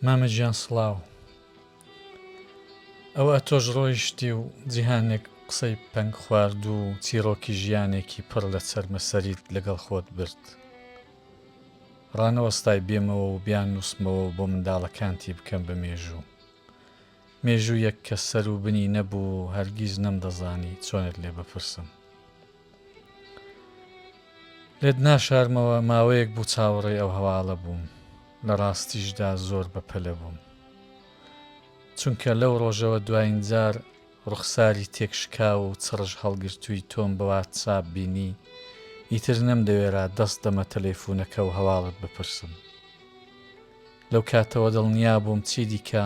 مامە گیان سڵاو ئەوە تۆش ڕۆیشتی و جیهانێک قسەی پەنگ خواردوو و چیڕۆکی ژیانێکی پڕ لە چەرمەسەریت لەگەڵ خۆت برد ڕانەوەستای بێمەوە و بیان نووسمەوە و بۆ منداڵەکانتی بکەم بە مێژوو مێژوویەک کە سەر و بنی نەبوو و هەرگیز نەمدەزانی چۆنت لێ بپرسم. لێت ناشارمەوە ماوەیەک بوو چاوەڕێی ئەو هەواڵە بووم لە ڕاستیشدا زۆر بە پەلە بووم چونکە لەو ڕۆژەوە دواین جار ڕوخساری تێکشکاو و چڕژ هەڵگرتووی تۆم بە واتساپ بینی ئیتر نەمدەوێرا دەست دەمە تەلەیفونەکە و هەواڵت بپرسم. لەو کاتەوە دڵنیا بووم چیدیکە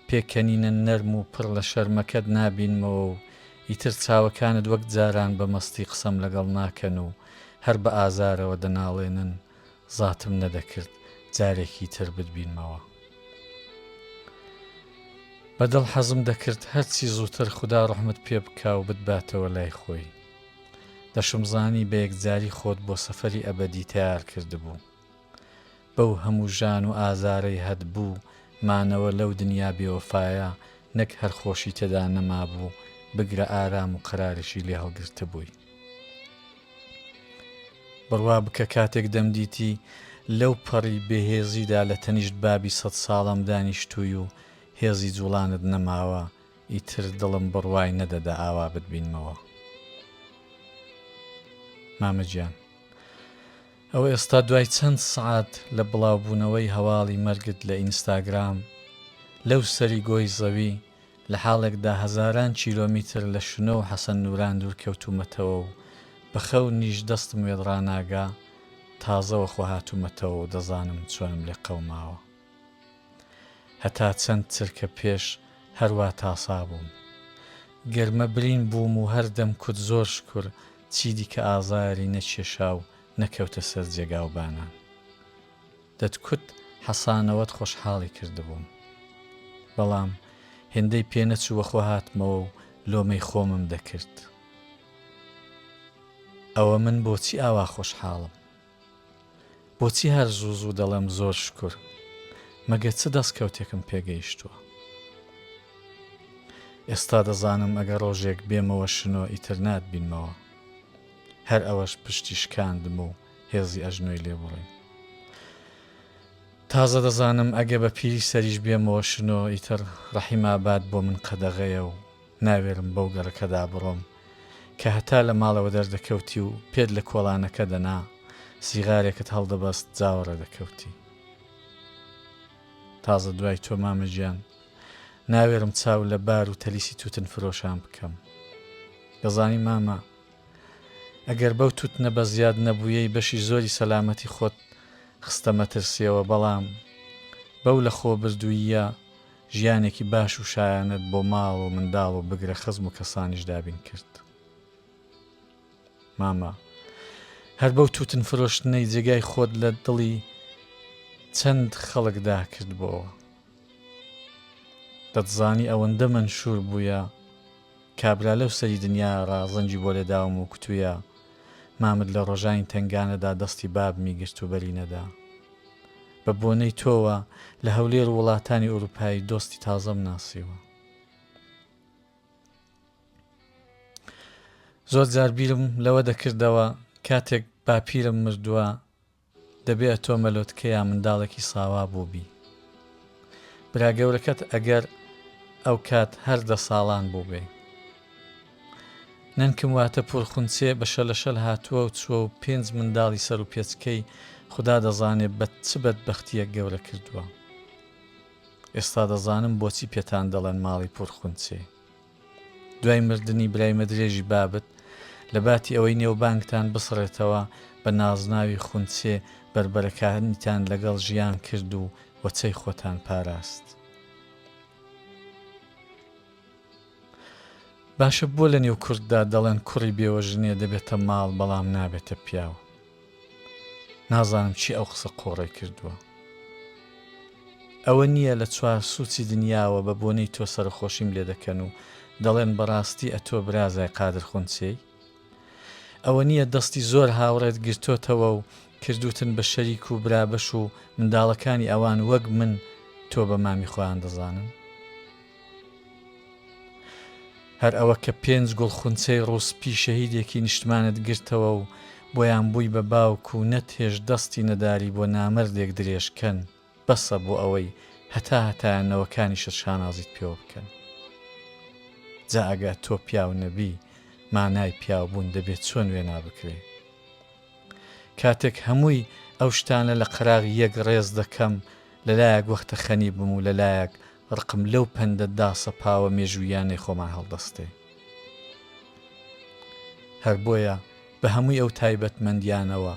پێکەنینە نەرم و پڕ لە شەرمەکەت نابینمەوە و ئیتر چاوەکانت وەک جاران بە مەستی قسەم لەگەڵ ناکەن و هەر بە ئازارەوە دەناڵێنن، زاتم نەدەکرد جارێکی تر بتبینمەوە. بە دڵ حەزم دەکرد هەرچی زووتر خودا ڕەحمت پێ بکا و بتباتەوە لای خۆی. دەشمزانی بە یەکجاری خۆت بۆ سەفەری ئەبەدی تەیار کردبوو. بەو هەموو ژان و ئازارەی هەت بوو مانەوە لەو دنیا بێوەفایە نەک هەر خۆشی تێدا نەمابوو بگرە ئارام و قەراریشی لێ هەڵگرتبووی. بڕوا بکە کاتێک دەمدیتی لەو پەڕی بێ هێزیدا لە تەنیشت بابی سەد ساڵەم دانیشتووی و هێزی جووڵانت نەماوە ئیتر دڵم بڕوای نەدەدا ئاوا بتبینمەوە مامە گیان. ئەوە ئێستا دوای چەند سەعات لە بڵاوبوونەوەی هەواڵی مەرگت لە ئینستاگرام، لەو سەری گۆی زەوی، لە حاڵێکدا هەزاران کیلۆمیتر لە شنۆ و حەسەن نووران دوورکەوتوومەتەوە و بە خەونیش دەستم وێدڕاناگا، تازە وەخۆهاتوومەتەوە و دەزانم چۆنم لێ قەوماوە. هەتا چەند چرکە پێش هەر وا تاسا بووم. گەرمە برین بووم و هەر دەم کوت زۆر شکور چیدیکە ئازاری نەکێشا و نەکەوتە سەر جێگا و بانان. دەتکوت حەسانەوەت خۆشحاڵی کردبووم. بەڵام هێندەی پێ نەچوو وەخۆ هاتمەوە و لۆمەی خۆمم دەکرد. ئەوە من بۆچی ئاوا خۆشحاڵم؟ بۆچی هەر زوو زوو دەڵێم زۆر شکور؟ مەگە چ دەستکەوتێکم پێگەیشتووە؟ ئێستا دەزانم ئەگەر ڕۆژێک بێمەوە شنۆ ئیتر ناتبینمەوە. هەر ئەوەش پشتی شکاندم و هێزی ئەژنۆی لێ بوڕیم. تازە دەزانم ئەگە بە پیری سەریش بێمەوە شنۆ ئیتر ڕەحیم ئاباد بۆ من قەدەغەیە و ناوێرم بەو گەڕەکەدا بڕۆم کە هەتا لە ماڵەوە دەردەکەوتی و پێت لە کۆڵانەکە دەنا، سیغارێکت هەڵدەبەست جاوەڕێ دەکەوتی. تازە دوای تۆ مامە گیان، ناوێرم چاو لە بار و تەلیسی تووتنفرۆشان بکەم. دەزانی مامە، ئەگەر بەو تووتنە بە زیاد نەبوویەی بەشی زۆری سەلامەتی خۆت خستە مەترسییەوە، بەڵام بەو لەخۆبردووییە ژیانێکی باش و شایانەت بۆ ماڵ و منداڵ و بگرە خزم و کەسانیش دابین کرد. مامە هەر بەو توتن فرۆشتنەی جێگای خۆت لە دڵی چەند خەڵکدا کردبەوە. دەتزانی ئەوەندە مەنشور بووە کابرا لەو سەری دنیا ڕا زەنگی بۆ لێداوم و کوتویە مامت لە ڕۆژانی تەنگانەدا دەستی بابمی گرت و بەری نەدا. بە بۆنەی تۆوە لە هەولێر و وڵاتانی ئوروپایی دۆستی تازەم ناسیوە. زۆر جار بیرم لەوە دەکردەوە کاتێک باپیرم مردوە دەبێ ئەتۆ مەلۆتکە یا منداڵێکی ساوا بووبی. برا گەورەکەت ئەگەر ئەو کات هەر دە ساڵان بووبێ. نەنکم واتە پوورخونچێ بە شەلەشەل هاتووە و چووە و پێنج منداڵی سەر و پێچکەی خودا دەزانێ بە چ بەدبەختییەک گەورە کردووە. ئێستا دەزانم بۆچی پێتان دەڵێن ماڵی پوورخونچێ. دوای مردنی برای مەدرێژی بابت، لە باتی ئەوەی نێوبانگتان بسڕێتەوە، بە نازناوی خونچێ بەربەرەکانیتان لەگەڵ ژیان کرد و وەچەی خۆتان پاراست. باشە بۆ لە نێو کورددا دەڵێن کوڕی بێوەژنێ دەبێتە ماڵ بەڵام نابێتە پیاو؟ نازانم چی ئەو قسە قۆڕەی کردووە. ئەوە نییە لە چوار سوچی دنیاوە بە بۆنەی تۆ سەرەخۆشیم لێ دەکەن و دەڵێن بەڕاستی ئەتۆ برازای قادر خونچێی؟ ئەوە نییە دەستی زۆر هاوڕێت گرتۆتەوە و کردووتن بە شەریک و برابەش و منداڵەکانی ئەوان وەک من تۆ بە مامی خۆیان دەزانن؟ هەر ئەوە کە پێنج گوڵ خونچەی ڕووسپی شەهیدێکی نیشتمانت گرتەوە و بۆیان بووی بە باوک و نەت هێشت دەستی نەداری بۆ نامەردێک درێژ کەن بەسە بۆ ئەوەی هەتا هەتایە نەوەکانیشت شانازیت پێوە بکەن جا ئەگە تۆ پیاو نەبی مانای پیاو بوون دەبێ چۆن وێنا بکرێ کاتێک هەمووی ئەو شتانە لە قەراغ یەک ڕێز دەکەم لە لایەک وەختە خەنی بم و لە لایەک ڕقم لەو پەندە داسەپاوە مێژووییانەی خۆمان هەڵدەستێ. هەر بۆیە بە هەمووی ئەو تایبەتمەندییانەوە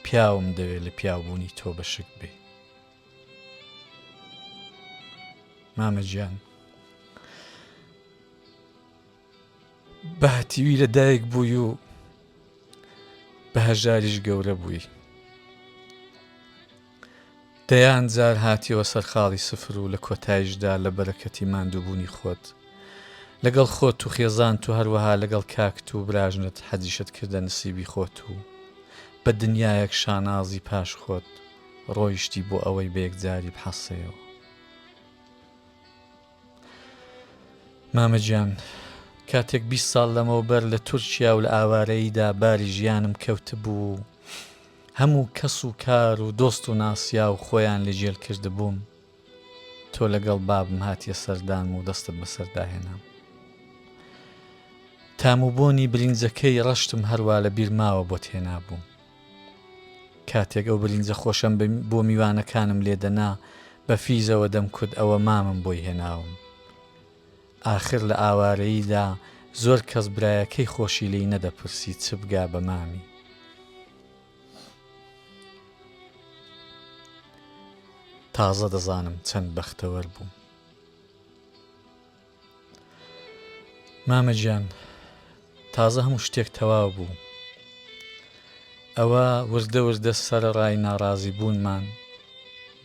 پیاوم دەوێ لە پیاوبوونی تۆ بە شک بێ. مامە گیان. بە هەتیوی لە دایک بووی و بە هەژاریش گەورە بووی. دەیان جار هاتیەوە سەر خاڵی سفر و لە کۆتایشدا لە بەرەکەتی ماندووبوونی خۆت لەگەڵ خۆت و خێزانت و هەروەها لەگەڵ کاکت و براژنت حەجیشت کردە نسیبی خۆت و بە دنیایەک شانازی پاش خۆت ڕۆیشتی بۆ ئەوەی بە یەکجاری بحەسێیەوە. مامە گیان کاتێک بیست ساڵ لەمەوبەر لە تورکیا و لە ئاوارەییدا باری ژیانم کەوتبوو و هەموو کەس و کار و دۆست و ناسیاو خۆیان لە گێل کردبووم تۆ لەگەڵ بابم هاتیە سەردانم و دەستت بەسەردا هێنام تام و بۆنی برینجەکەی ڕەشتم هەروا لە بیرماوە بۆت هێنابووم کاتێک ئەو برینجە خۆشەم بۆ میوانەکانم لێ دەنا بە فیزەوە دەمکوت ئەوە مامم بۆی هێناوم. ئاخر لە ئاوارەییدا زۆر کەس برایەکەی خۆشی لێی نەدەپرسی چ بگا بە مامی. تازە دەزانم چەند بەختەوەر بووم. مامە گیان تازە هەموو شتێک تەوا بوو ئەوە وردە وردە سەرڕای ناڕازی بوونمان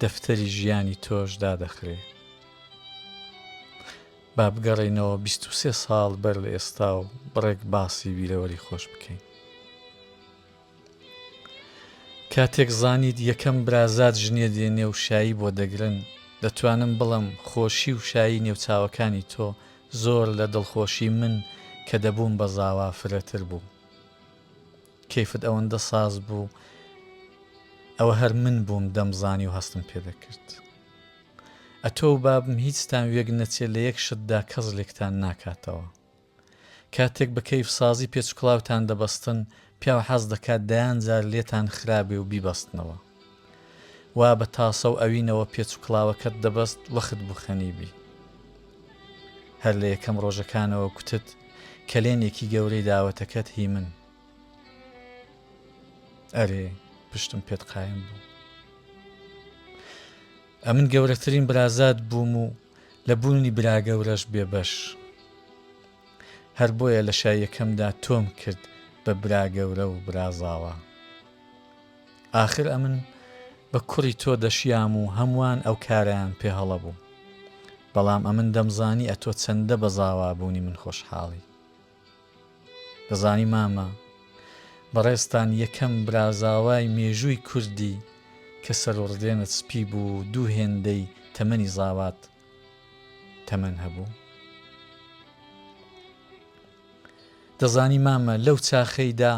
دەفتەری ژیانی تۆش دادەخرێ با بگەڕێنەوە 23 ساڵ بەر لە ئێستا و بڕێک باسی بیرەوەری خۆش بکەین کاتێک زانیت یەکەم برازات ژنێ دێنێ و شایی بۆ دەگرن، دەتوانم بڵێم خۆشی و شایی نێو چاوەکانی تۆ زۆر لە دڵخۆشی من کە دەبووم بە زاوا فرەتر بوو. کەیفت ئەوەندە ساز بوو ئەوە هەر من بووم دەمزانی و هەستم پێ دەکرد. ئەتۆ و بابم هیچتان وێک نەچێ لە یەک شتدا کەس لێکتان ناکاتەوە. کاتێک بە کەیف سازی پێچکڵاوتان دەبەستن پیاو حەز دەکات دەیان جار لێتان خرابێ و بیبەستنەوە وا بە تاسە و ئەوینەوە پێچکڵاوەکەت دەبەست وەخت بوو خەنیبی هەر لە یەکەم ڕۆژەکانەوە کوتت کەلێنێکی گەورەی داوەتەکەت هی من ئەرێ پشتم پێت قایم بوو ئەمن گەورەترین برازات بووم و لە بوونی براگەورەش بێ بەش. هەر بۆیە لە شای یەکەمدا تۆم کرد بە براگەورە و برازاوا. ئاخر ئەمن بە کوڕی تۆ دەشیام و هەمووان ئەو کارەیان پێ هەڵە بوو. بەڵام ئەمن دەمزانی ئەتۆ چەندە بە زاوابوونی من خۆشحاڵی. دەزانی مامە بەڕێزتان یەکەم برازاوای مێژووی کوردی کە سەروڕدێنت سپی بوو و دوو هێندەی تەمەنی زاوات تەمەن هەبوو؟ دەزانی مامە لەو چاخەیدا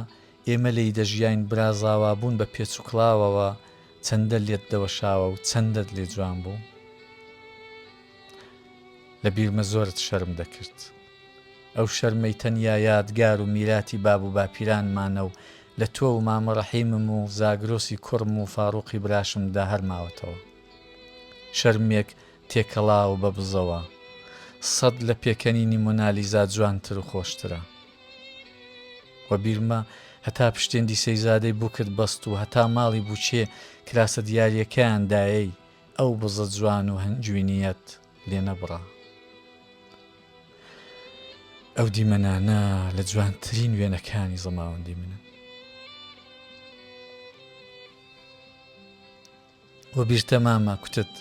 ئێمە لێی دەژیاین برازاوا بوون بە پێچوکڵاوەوە چەندە لێت دەوەشاوە و چەندەت لێ جوان بوو؟ لە بیرمە زۆرت شەرم دەکرد. ئەو شەرمەی تەنیا یادگار و میراتی باب و باپیرانمانە و لە تۆ و مامە ڕەحیمم و زاگرۆسی کوڕم و فاڕوقی براشمدا هەر ماوەتەوە. شەرمێک تێکەڵاو بە بزەوە. سەد لە پێکەنینی مۆنالیزا جوانتر و خۆشترە. وە بیرمە هەتا پشتێن دیسەیزادەی بوکت بەست و هەتا ماڵی بوچێ کراسە دیاریەکەیان دایەی ئەو بزە جوان و هەنجوینیەت، لێ نەبڕا. ئەو دیمەنانە لە جوانترین وێنەکانی زەماوەندی منن. وە بیرتە مامە کوتت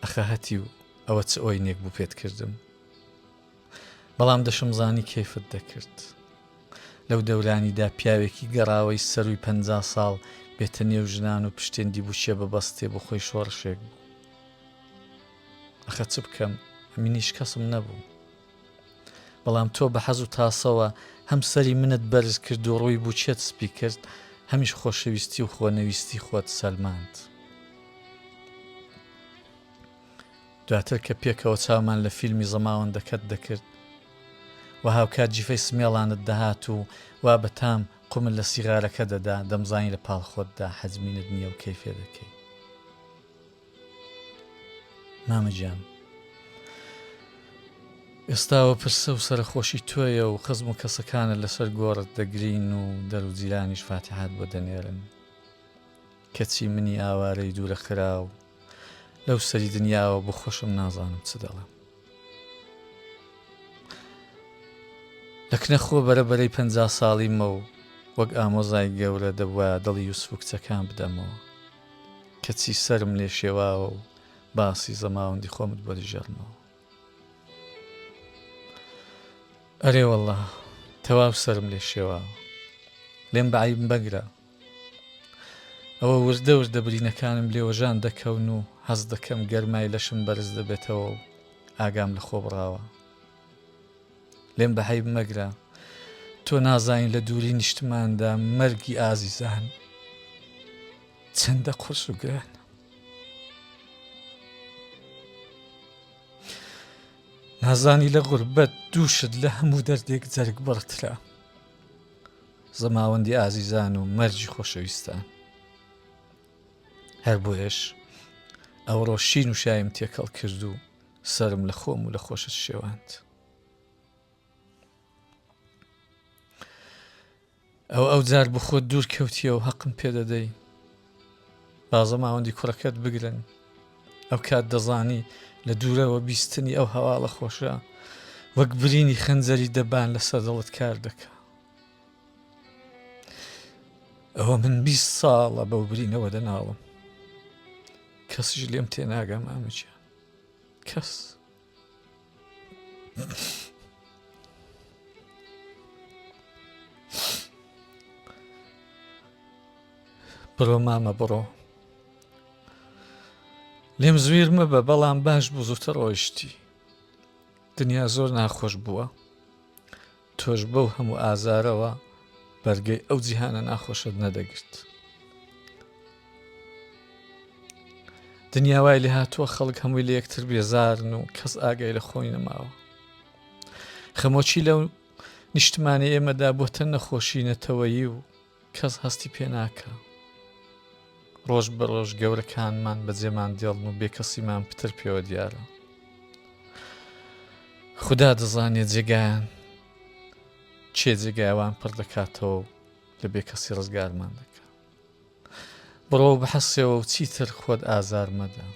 ئەخە هەتی و ئەوە چ ئەوی نێک بوو پێت کردم. بەڵام دەشم زانی کەیفت دەکرد. لەو دەورانیدا پیاوێکی گەڕاوەی سەروی پ ساڵ بێتە نێو ژنان و پشتێندی بووچێ بە بەستێ بۆ خۆی شۆڕشێک بوو. ئەخە چ بکەم منیش کەسم نەبوو بەڵام تۆ بە حەز و تاسەوە هەم سەری منت بەرز کرد و ڕووی بچێت سپی کرد هەمیش خۆشەویستی و خۆنەویستی خۆت سەلماند دواتر کە پێکەوە چاومان لە فیلمی زەماوەندەکەت دەکرد و هاوکات جیفەی سمێڵانت دەهات و وا بەتام قومل لە سیغارەکە دەدا دەمزانی لە پاڵ خۆتدا حەزمینت نییە و کەیفێ دەکەی مامە گیان ئێستاوە پرسە و سەرخۆشی تۆیە و خزم و کەسەکانە لەسەر گۆڕت دەگرین و دەروجیرانیش فاتحات بۆ دەنێرن کەچی منی ئاوارەی دوورە خرا و لەو سەری دنیاوە بۆ خۆشم نازانم چ دەڵم لەکنە خۆ بەرە بەرەی پ ساڵیمە و وەک ئامۆزای گەورە دەبواە دڵی یوسف کچەکان بدەمەوە کەچی سەرم لێ شێواوە و باسی زەماوەندی خۆمت بۆ دەژێڕمەوە ئەرێ والله تەواو سرم لێ شێواوە لێم بەعیبم بەگرە ئەوە وردە وردە برینەکانم لێوەژان دەکەون و هەز دەکەم گەرمای لەشم بەرز دەبێتەوە و ئاگام لە خۆ بڕاوە لێم بە هەیب مەگرە تۆ نازانین لە دووری نیشتماندا مەرگی ئازیزان چەندە قورس و گران نازانی لە غوربەت دووشت لە هەموو دەردێک جەرگ بڕترا زەماوەندی ئازیزان و مەرجی خۆشەویستان هەر بۆیش ئەوڕۆ شین و شایم تێکەڵ کرد و سەرم لە خۆم و لە خۆشت شێواند ئەو ئەو جار بخۆت دوور کەوتیە و هەقم پێدەدەی بازە ماوەندی کوڕەکەت بگرن ئەو کات دەزانی لە دوورەوە بیستنی ئەو هەواڵە خۆشە وەک برینی خەنجەری دەبان لە سەردەڵت کار دەکە ئەوە من 20 ساڵە بەو برینەوە دەناڵم کەسیش لێم تێناگەم ئامچە کەس بڕۆ مامە بڕۆ لێم زویر مەبە بەڵام باش بوو زووتە ڕۆیشتی دنیا زۆر ناخۆش بووە تۆش بەو هەموو ئازارەوە بەرگەی ئەو جیهانە ناخۆشت نەدەگرت دنیاوای لێ هاتووە خەڵک هەمووی لە یەکتر بێزارن و کەس ئاگای لە خۆی نەماوە خەمۆکی لەو نیشتمانی ئێمەدا بۆتە نەخۆشی نەتەوەیی و کەس هەستی پێ ناکا. ڕۆژ بە ڕۆژ گەورەکانمان بە جێمان دێڵن و بێکەسیمان پتر پێوە دیارە. خودا دەزانێ جێگایان چێ جێگایوان پڕ دەکاتەوە و لە بێکەسی ڕزگارمان دەکات. بڕۆ بحەسێەوە و چیتر خۆت ئازار مەدە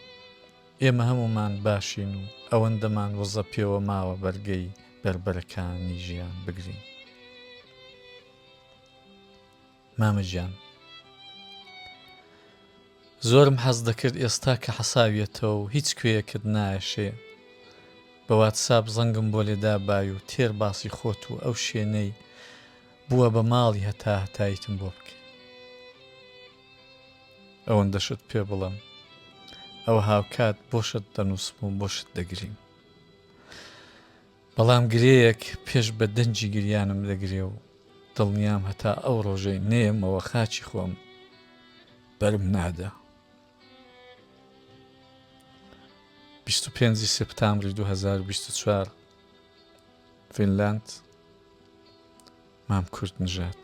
ئێمە هەمومان باشین و ئەوەندەمان وەزە پێوە ماوە بەرگەی بەربەرەکانی ژیان بگرین مامە گیان زۆرم حەز دەکرد ئێستا کە حەساویەتەوە و هیچ کوێیەکت نایەشێ بە واتساب زەنگم بۆ لێدا بای و تێر باسی خۆت و ئەو شوێنەی بووە بە ماڵی هەتا هەتایتم بۆ بکە ئەوەندەشت پێ بڵم ئەوە هاوکات بۆشت دەنووسم و بۆشت دەگریم بەڵام گرێیەک پێش بە دەنگی گریانم دەگرێ و دڵنیام هەتا ئەو ڕۆژەی نێمەوە خاچی خۆم بەرم نادا. 25 سپتامبری 2024 فینلاند مام کورد نژات.